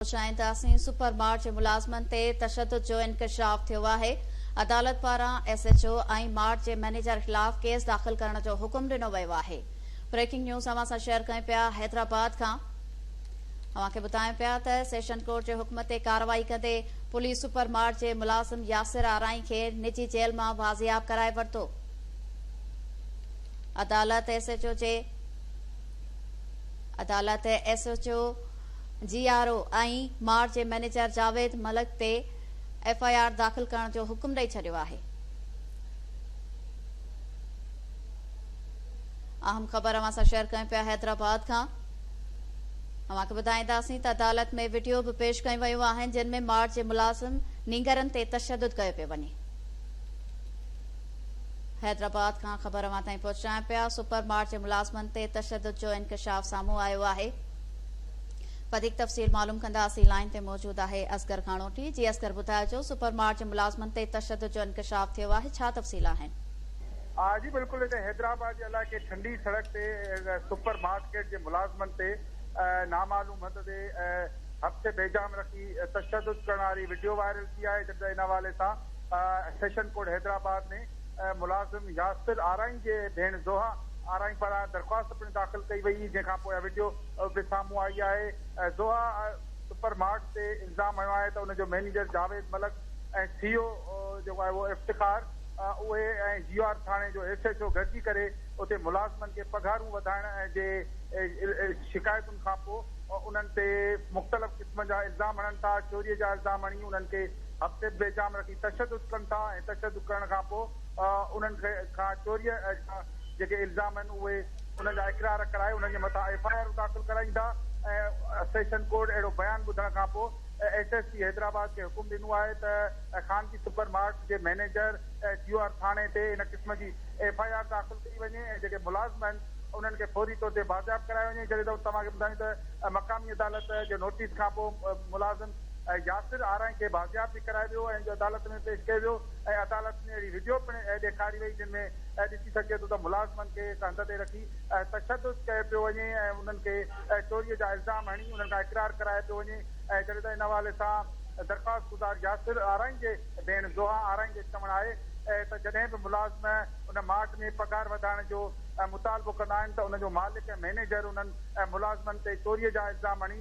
پهچائين ته اسين سپر مارٽ جي ملازمن تي تشدد جو انڪشاف ٿيو آهي، عدالت پاران ايس ايڇ او ۽ مارٽ جي مئنيجر خلاف ڪيس داخل ڪرڻ جو حڪم ڏنو ويو آهي بريڪنگ نيوز اوهان سان شيئر ڪيون پيا حيدرآباد کان اوهان کي ٻڌايون پيا ته سيشن ڪورٽ جي حڪم تي ڪارروائي ڪندي پوليس سپر مارٽ جي ملازم ياسر آرائين کي نجي جيل مان بازياب ڪرائي ورتو عدالت ايس ايڇ او جي عدالت ايس ايڇ او جي آر او ۽ ماڙ جي مئنيجر جاويد ملڪ تي ايف آء آر داخل ڪرڻ جو حڪم ڏئي ڇڏيو آهي. اهم خبر اوهان سان شيئر ڪيون پيا حيدرآباد کان اوهان کي ٻڌائينداسين ته عدالت ۾ وڊيو به پيش ڪيون ويون آهن جن ۾ ماڙ جي ملازم نينگرن تي تشدد ڪيو پيو وڃي حيدرآباد کان خبر اوهان تائين پهچايون پيا سپر ماڙ جي ملازمن تي تشدد جو انڪشاف سامهون آيو آهي وڌيڪ تفصيل معلوم ڪنداسين لائين تي موجود آهي اصغر گهاڻوٽي جي اصغر ٻڌائجو سپر مارٽ جي ملازمن تي تشدد جو انڪشاف ٿيو آهي ڇا تفصيل آهن. ها جي بلڪل هتي حيدرآباد جي علائقي ٺنڊي سڙڪ تي سپر مارڪيٽ جي ملازمن تي نامعلوم هنڌ تي هٿ بيجام رکي تشدد ڪرڻ واري وڊيو وائرل ٿي آهي جڏهن ته ان حوالي سان سيشن ڪورٽ حيدرآباد ۾ ملازم ياسر آرائين جي ڀيڻ زوها آرائين پاران درخواست پڻ داخل ڪئي وئي جنهن کان پوء وڊيو به سامهون آئي آهي زوها سپر مارٽ تي الزام هنيو آهي ته ان جو مئنيجر جاويد ملڪ ۽ سي او جيڪو آهي اهو افتخار اهي ۽ جي آر ٿاڻي جو ايس ايڇ او گڏجي ڪري اتي ملازمن کي پگهارون وڌائڻ جي شڪايتن کان پوء انهن تي مختلف قسمن جا الزام هڻن ٿا چوري جا الزام هڻي انهن کي هفتي به بي جام رکي تشدد ڪن ٿا ۽ تشدد ڪرڻ کان پوء انهن کان چوريء جا جيڪي الزام آهن اهي انهن جا اقرار ڪرائي انهن جي مٿان ايف آء آرون داخل ڪرائين ٿا ۽ سيشن ڪورٽ اهڙو بيان ٻڌڻ کان پوء ايس ايس پي حيدرآباد کي حڪم ڏنو آهي ته خانگي سپر مارٽ جي مئنيجر جيو آر ٿاڻي تي ان قسم جي ايف آء آر داخل ڪئي وڃي ۽ جيڪي ملازم آهن انهن کي فوري طور تي بازياب ڪرايو وڃي جڏهن ته توهان کي ٻڌايون ته مقامي عدالت جي نوٽيس کان پوء ملازم ۽ ياسر آرائين کي بازياب به ڪرايو ويو ۽ عدالت ۾ پيش ڪيو ويو ۽ عدالت ۾ اهڙي وڊيو پڻ ڏيکاري وئي جن ۾ ڏسي سگهجي ٿو ته ملازمن کي هڪ هنڌ تي رکي تشدد ڪيو پيو وڃي ۽ انهن کي چوري جا الزام هڻي انهن کان اقرار ڪرايو پيو وڃي ۽ جڏهن ته ان حوالي سان درخواستگذار ياسر آرائين جي ڀيڻ زوها آرائين جو چوڻ آهي ته جڏهن به ملازم ان ماٽ ۾ پگهار وڌائڻ جو مطالبو ڪندا آهن ته ان جو مالڪ ۽ مئنيجر انهن ملازمن تي چوري جا الزام هڻي